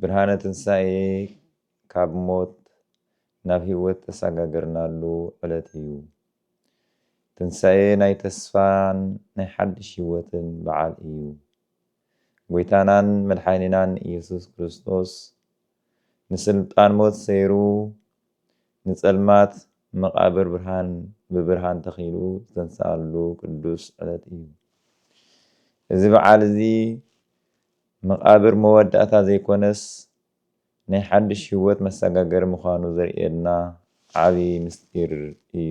ብርሃነ ትንሳኤ ካብ ሞት ናብ ህይወት ተሳጋገርናሉ ዕለት እዩ። ትንሳኤ ናይ ተስፋን ናይ ሓድሽ ህይወትን በዓል እዩ። ጎይታናን መድሓኒናን እየሱስ ክርስቶስ ንስልጣን ሞት ሰይሩ ንጸልማት መቓብር ብርሃን ብብርሃን ተኺሉ ዝተንስኣሉ ቅዱስ ዕለት እዩ። እዚ በዓል እዚ መቓብር መወዳእታ ዘይኮነስ ናይ ሓድሽ ህይወት መሰጋገሪ ምዃኑ ዘርእየና ዓቢ ምስጢር እዩ።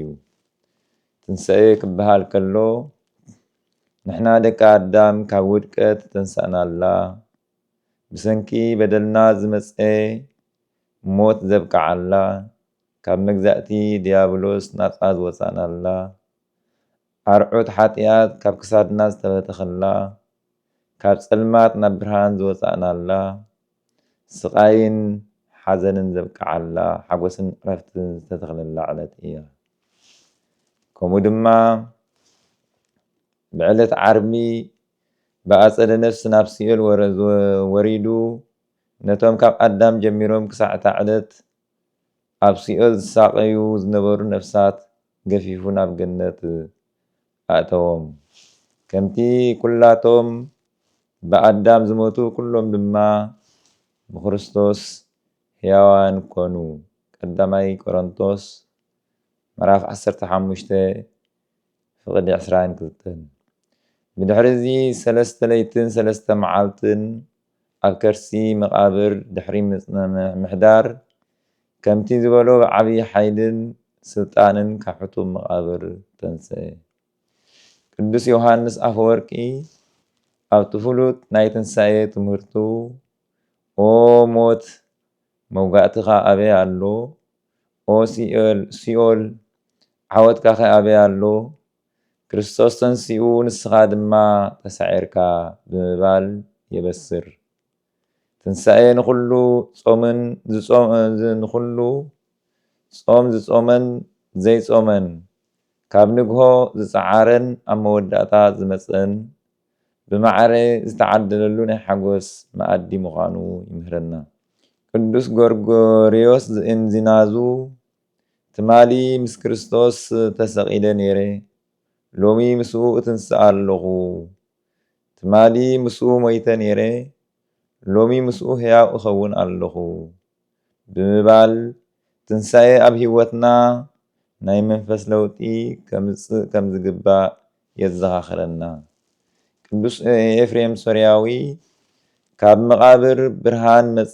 ትንሳኤ ክበሃል ከሎ ንሕና ደቂ ኣዳም ካብ ውድቀት ዝተንሳእናላ፣ ብሰንኪ በደልና ዝመጸ ሞት ዘብቅዓላ፣ ካብ መግዛእቲ ድያብሎስ ናጻ ዝወጻእናላ፣ ኣርዑት ሓጥያት ካብ ክሳድና ዝተበተኽላ፣ ካብ ጸልማት ናብ ብርሃን ዝወጻእናላ፣ ስቓይን ሓዘንን ዘብቅዓላ፣ ሓጎስን ዕረፍትን ዝተተኽለላ ዕለት እያ። ከምኡ ድማ ብዕለት ዓርቢ ብኣጸደ ነፍሲ ናብ ሲኦል ወሪዱ ነቶም ካብ ኣዳም ጀሚሮም ክሳዕ እታ ዕለት ኣብ ሲኦል ዝሳቐዩ ዝነበሩ ነፍሳት ገፊፉ ናብ ገነት ኣእተዎም። ከምቲ ኵላቶም ብኣዳም ዝሞቱ ኵሎም ድማ ብክርስቶስ ሕያዋን ኰኑ፣ ቀዳማይ ቆሮንቶስ ምዕራፍ ዓሰርተ ሓሙሽተ ፍቕዲ ዕስራን ክልተን። ብድሕሪ እዚ ሰለስተ ለይትን ሰለስተ መዓልትን ኣብ ከርሲ መቓብር ድሕሪ ምምሕዳር፣ ከምቲ ዝበሎ ብዓብይ ሓይልን ስልጣንን ካብ ሕጡብ መቓብር ተንስኤ። ቅዱስ ዮሃንስ ኣፈወርቂ ኣብቲ ፍሉጥ ናይ ትንሳኤ ትምህርቱ ኦ ሞት መውጋእትኻ ኣበይ ኣሎ? ኦ ሲኦል ዓወትካኸ ኣበይ ኣሎ? ክርስቶስ ተንሲኡ ንስኻ ድማ ተሳዒርካ ብምባል የበስር። ትንሳኤ ንኹሉ ጾምን ንኹሉ ጾም ዝጾመን ዘይጾመን፣ ካብ ንግሆ ዝጸዓረን ኣብ መወዳእታ ዝመጸን ብማዕረ ዝተዓደለሉ ናይ ሓጎስ መኣዲ ምዃኑ ይምህረና። ቅዱስ ጎርጎርዮስ ዘእንዚናዙ ትማሊ ምስ ክርስቶስ ተሰቒለ ነይረ፣ ሎሚ ምስኡ እትንስኣ ኣሎኹ። ትማሊ ምስኡ ሞይተ ነይረ፣ ሎሚ ምስኡ ሕያው እኸውን ኣሎኹ። ብምባል፣ ትንሳኤ ኣብ ህይወትና ናይ መንፈስ ለውጢ ከምጽእ ከም ዝግባእ የዘኻኽረና። ቅዱስ ኤፍሬም ሶርያዊ ካብ መቓብር ብርሃን መጸ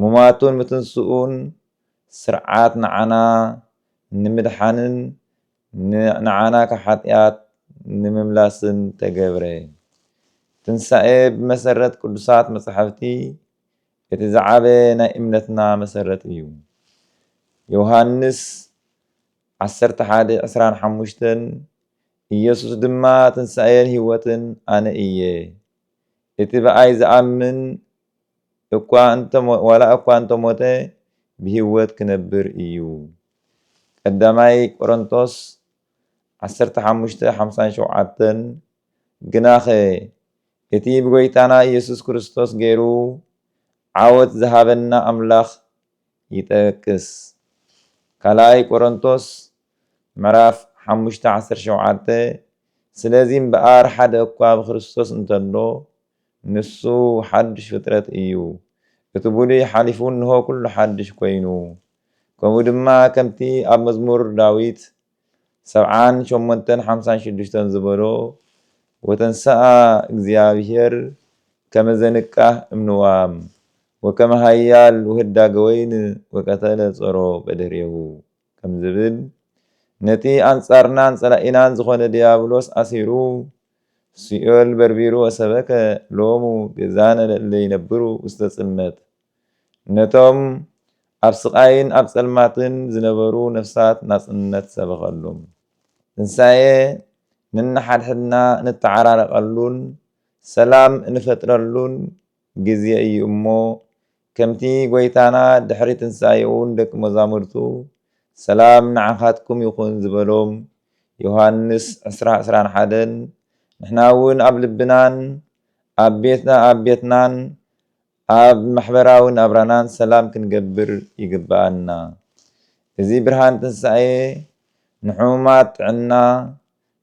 ሙማቱን ምትንስኡን ስርዓት ንዓና ንምድሓንን ንዓና ካብ ሓጢኣት ንምምላስን ተገብረ። ትንሳኤ ብመሰረት ቅዱሳት መጻሕፍቲ እቲ ዝዓበየ ናይ እምነትና መሰረት እዩ። ዮሃንስ ዓሰርተ ሓደ ዕስራን ሓሙሽተን ኢየሱስ ድማ ትንሳኤን ሕይወትን ኣነ እየ እቲ ብኣይ ዝኣምን እኳ እንተ ዋላ እኳ እንተ ሞተ ብህይወት ክነብር እዩ ቀዳማይ ቆረንቶስ ዓሰርተ ሓሙሽተ ሓምሳን ሸውዓተን ግናኸ እቲ ብጐይታና ኢየሱስ ክርስቶስ ገይሩ ዓወት ዝሃበና ኣምላኽ ይጠቅስ ካልኣይ ቆረንቶስ ምዕራፍ ሓሙሽተ ዓሰርተ ሸውዓተ ስለዚ እምበኣር ሓደ እኳ ብክርስቶስ እንተሎ ንሱ ሓድሽ ፍጥረት እዩ፣ እቲ ብሉይ ሓሊፉ እንሆ ኩሉ ሓድሽ ኮይኑ። ከምኡ ድማ ከምቲ ኣብ መዝሙር ዳዊት ሰብዓን ሸሞንተን ሓምሳን ሽዱሽተን ዝበሎ ወተንሥኣ እግዚኣብሔር ከመ ዘንቃህ እምንዋም ወከመ ኃያል ወህዳገ ወይን ወቀተለ ጾሮ በድህሬሁ። ከም ዝብል ነቲ ኣንጻርናን ጸላኢናን ዝኾነ ድያብሎስ ኣሲሩ ሲኦል በርቢሩ ወሰበከ ሎሙ ቤዛነ ለእለ ይነብሩ ውስተ ጽልመት ነቶም ኣብ ስቓይን ኣብ ጸልማትን ዝነበሩ ነፍሳት ናጽነት ሰበኸሉም። ትንሳኤ ነንሓድሕድና እንተዓራረቐሉን ሰላም እንፈጥረሉን ግዜ እዩ እሞ ከምቲ ጐይታና ድሕሪ ትንሳኤኡ ንደቂ መዛሙርቱ ሰላም ንዓኻትኩም ይኹን ዝበሎም፣ ዮሃንስ ዕስራ ዕስራን ሓደን፣ ንሕና እውን ኣብ ልብናን ኣብ ቤትና ኣብ ቤትናን ኣብ ማሕበራዊ ናብራናን ሰላም ክንገብር ይግብኣና። እዚ ብርሃን ትንሳኤ ንሕሙማት ጥዕና፣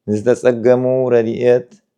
ንዝተጸገሙ ረድኤት፣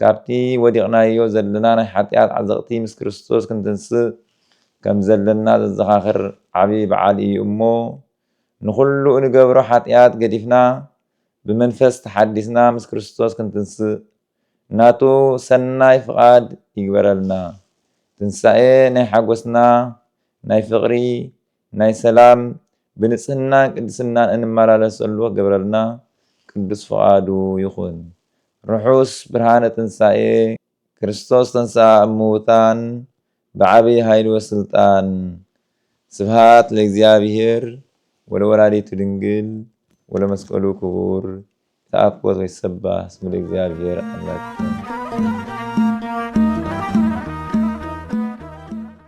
ካብቲ ወዲቕናዮ ዘለና ናይ ሓጢኣት ዓዘቕቲ ምስ ክርስቶስ ክንትንስእ ከም ዘለና ዘዘኻኽር ዓቢ በዓል ኢዩ እሞ፣ ንኹሉ እንገብሮ ሓጢኣት ገዲፍና ብመንፈስ ተሓዲስና ምስ ክርስቶስ ክንትንስእ ናቱ ሰናይ ፍቓድ ይግበረልና። ትንሳኤ ናይ ሓጎስና፣ ናይ ፍቕሪ፣ ናይ ሰላም ብንጽህናን ቅድስናን እንመላለሰሉ ክገብረልና ቅዱስ ፍቓዱ ይኹን። ርሑስ ብርሃነ ትንሳኤ ክርስቶስ ተንሥኣ እሙውታን ብዓቢይ ኃይል ወሥልጣን። ስብሃት ለእግዚኣብሔር ወለወላዲቱ ድንግል ወለመስቀሉ ክቡር ይትኣኮት ወይትሰባህ ስሙ ለእግዚኣብሔር ኣምላክነ።